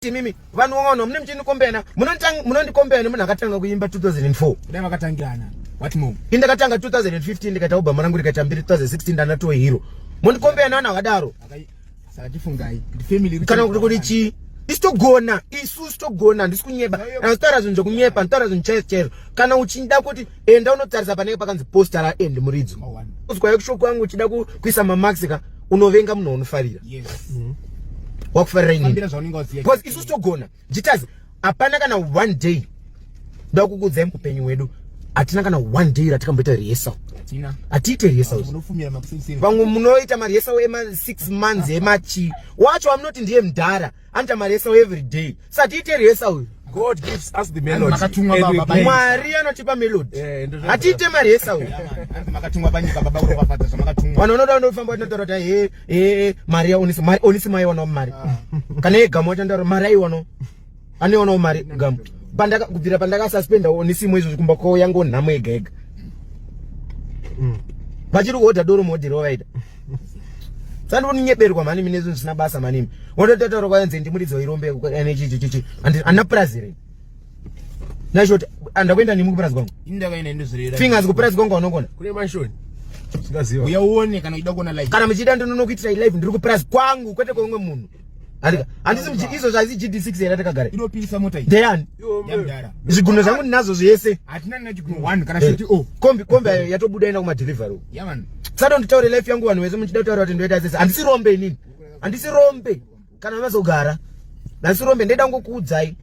imimi vanhu wangano mune mchini kombena munondikombena munhu akatanga kuimba 2004 kudai vakatangirana what more ini ndakatanga 2015 ndikaita obama rangu rikaita mbiri 2016 ndanatowe hero mondikombena vanhu akadaro saka tifungai family kana kuti kuti chii isu togona isu sitogona handisi kunyeba anotaura zvinhu zvekunyepa anotaura zvinhu chaizvo chaizvo kana uchida kuti enda unotarisa panenge pakanzi poster ra end muridzo oh, uzwa yekushoko yangu uchida kuisa mamax ka unovenga munhu unofarira yes. mm -hmm. wakufarira ini because isu togona jitazi hapana kana one day ndoda kukudzai muupenyu hwedu hatina kana one day ratikamboita rehearsal hatiite rehearsal vamwe munoita marehearsal ema six months emachi wacho amunoti ndiye mdhara anoita mari yesau every day satiite riyesau uyu God gives us the melody. Mwari anotipa melody. Eh, Hatiite mari yesa uyu. Makatumwa panyika baba uri kwafadza zvamakatumwa. Vanhu vanoda vanofamba vachinotaura kuti he he mari ya onisi mari onisi mai wana mari. Ah. Kana ye gamu wachandaura mari ayi wano. Ani wana mari gamu. Pandaka kubvira pandaka suspenda onisi mwe izvo kumba kwao yango nhamo yega yega. Mm. Vachiri kuhodha doro modhi rovaida. sandikunyeberwa mani mine zvinhu zvisina basa manimi wotototaura kwaenze ndimuridzi wairombe ane chichichichi andina purazi here nashoti andakuenda nemi kupurazi kwangu fingers kupurazi kwangu anokona kune manshoni uya uone kana uchida kuona live kana muchida ndinonokuitirai live ndiri kupurazi kwangu kwete kweumwe munhu handisi izvo zvaisi gd6 here takagara inopisa mota iyi ndeyani yamdara zvigunwe zvangu ndinazvo zvese hatina nina chigunwe 1 kana shoti eh, o oh. kombi kombi ayo yatobuda enda kumadelivery yaman sado nditaure life yangu vanhu vese muchida kutaura kuti ndoita sese handisi rombe inini handisi rombe kana mazogara handisi rombe ndaida ngokuudzai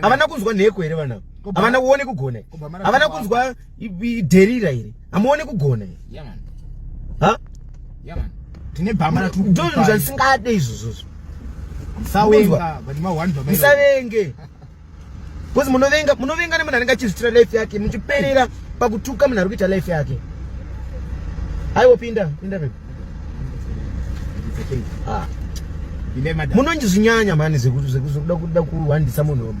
havana kunzwa nheko here vana havana kuone kugona havana kunzwa dherira here hamuone kugona here ha tine bhama ndozvinhu zvandisingade izvozvozvo musavenge bcause munovenga munovenga nemunhu anenge achizvitira life yake muchiperera pakutuka munhu ari kuita life yake aiwopinda pinda pinda Ah. munondizinyanya mani zvekuda kuda kuhwandisa munhu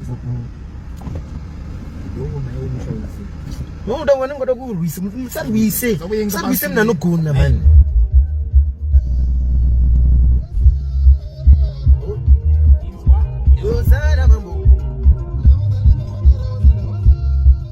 noda wena ngoda kurwisa musarwise musarwise munhu anogona mani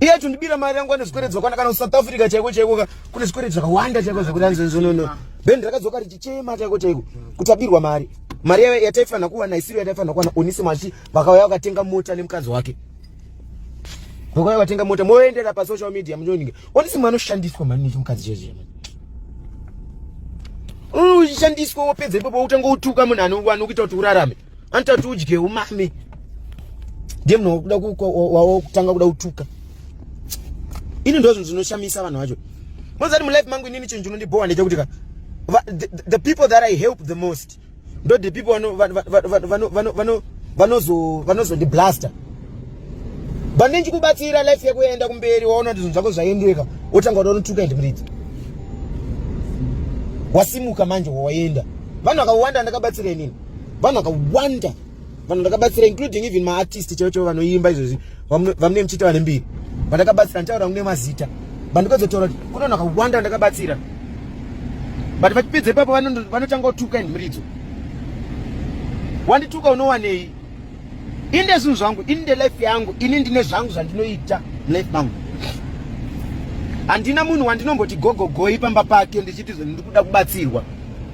iye achondibira mari yangu ane zvikwereti zvakwana kana kusouth africa chaiko chaiko ka kune zvikwereti zvakawanda chaiko zvekuti anzonzonono bendi rakadzoka richichema chaiko chaiko kuti abirwa mari mari yave yataifanira kuwana isiro yataifanira kuwana onise machi vakauya vakatenga mota nemukadzi wake vakauya vatenga mota moendera pasocial media muchonike onise mwana oshandiswa mani nechimukadzi chezve uchishandiswa wopedza ipopo utange utuka munhu anokuita kuti urarame anotati udye umame ndiye munhu wakuda wakutanga kuda kutuka ini ndo zvinhu zvinoshamisa vanhu vacho mozati mulife mangu inini chinhu chinondibhowa ndechekuti ka the people that i help the most ndo the people vanozondiblaster but ndichikubatsira life yako yaenda kumberi waona kuti zvinhu zvako zvaendeka wotanga kuda unotuka and mridzi wasimuka manje wawaenda vanhu vakawanda ndakabatsira inini vanhu vakawanda vanhu ndakabatsira including even maartist chaivo chaivo vanoimba izvozvi vamune muchiti vane mbiri vandakabatsira ndichaura kune mazita vandikazotaura kuti kune vanhu vakawanda vandakabatsira but vachipedza ipapo vanotanga kutuka in muridzo wandituka unowanei ini ndezvinhu zvangu ini ndelife yangu ini ndine zvangu zvandinoita life mangu handina munhu wandinomboti gogogoi pamba pake ndichiti ndiri kuda kubatsirwa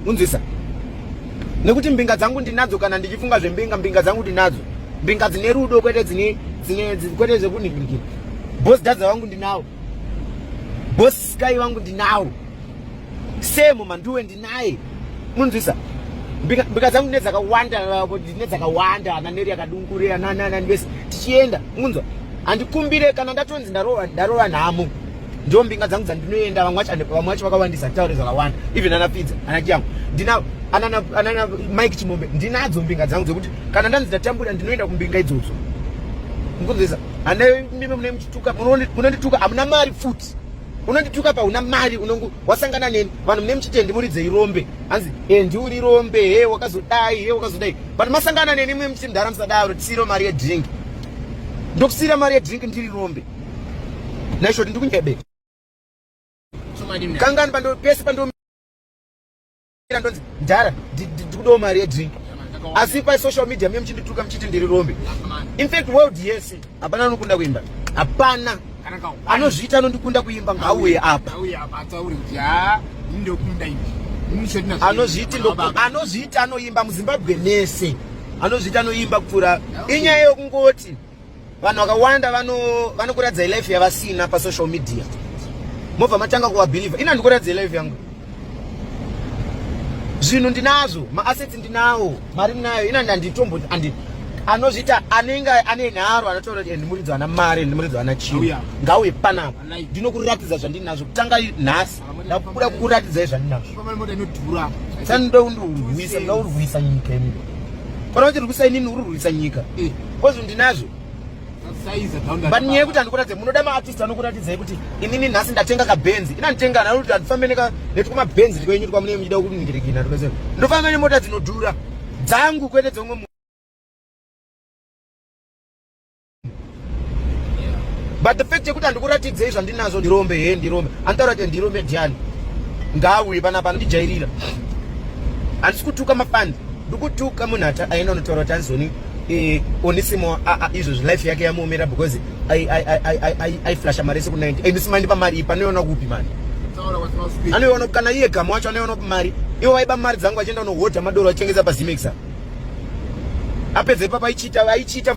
unzwisa nekuti mbinga dzangu ndinadzo kana ndichifunga zvembinga mbinga dzangu ndinadzo mbinga dzine rudo kwete dzine dzine kwete zvekunhikirikira bos dadza vangu ndinawo bos sky vangu ndinawo semo manduwe naye munzwisa mbika dzangu ndine dzakawanda ndine dzakawanda ananeri akadungurira nananani vese tichienda munzwa handikumbire kana ndatonzi ndarova nhamo ndo mbinga dzangu dzandinoenda vamwe vacho vakawandisa nditaure zvakawanda even ana pfidza ana chiyangu ndinavo anana mike chimombe ndinadzo mbinga dzangu dzekuti kana ndanzi ndatambura ndinoenda kumbinga idzodzo mukunzisa ana mime mune muchituka munondituka hamuna mari futi unondituka pauna mari unongu wasangana neni vanhu mune muchitendi muridzei rombe hanzi e ndiuri rombe he wakazodai he wakazodai but masangana neni mwe muchimdhara musadaro tisiro mari yedrink ndokusira mari yedrink ndiri rombe naishoti ndikunyebe kangani pando pese pando ndonzi mdhara ndikudawo mari yedrink asi pasocial media mie muchindituka muchiti ndiri rombe infact world yese hapana anokunda kuimba hapana anozviita anondikunda kuimba ngauye apa anozviiti anozviita anoimba muzimbabwe mese anozviita anoimba kupfuura inyaya yokungoti vanhu vakawanda vanokuratidza vano life yavasina pasocial media mobva matanga kuvabhilivha ini handikuratidza life yangu zvinhu ndinazvo maassets ndinawo mari ndinayo ina ndanditombo andi anozviita anenge ane nharo anotaura kuti ndimuridzi ana mari ndimuridzi ana chii ngauye panapa ndinokuratidza zvandinazvo kutanga nhasi ndakuda kukuratidzai zvandinazvo sani ndoda kundirwisa ndoda kurwisa nyika imi kana kuti rwisa inini uri rwisa nyika eh. kozvo ndinazvo but nyaya yekuti andikuratidze munoda maartist anokuratidzai kuti inini nhasi ndatenga kabenzi ina nditenga naro kuti andifambe netwumabenzi ndikwenyu twamunenge muchida kuningirekina tokese ndofamba nemota dzinodhura dzangu kwete dzomwe but the fact yekuti handikuratidzei zvandinazvo ndirombe he ndirombe anotaura kuti ndirombe ndiani ngaauye panapa anondijairira handisi kutuka mafani ndikutuka munhu aenda unotaura kuti anzoni eh, onisimo izvozvi life yake yamuomera because aiflasha mari ese ku90 and simandipa mari ipa anoiona kupi mari anoiona kana iye gamu wacho anoiona kupi mari ivo vaiba mari dzangu achienda unohodha madoro achitengesa pazimexa apedze ipapa aichita aichita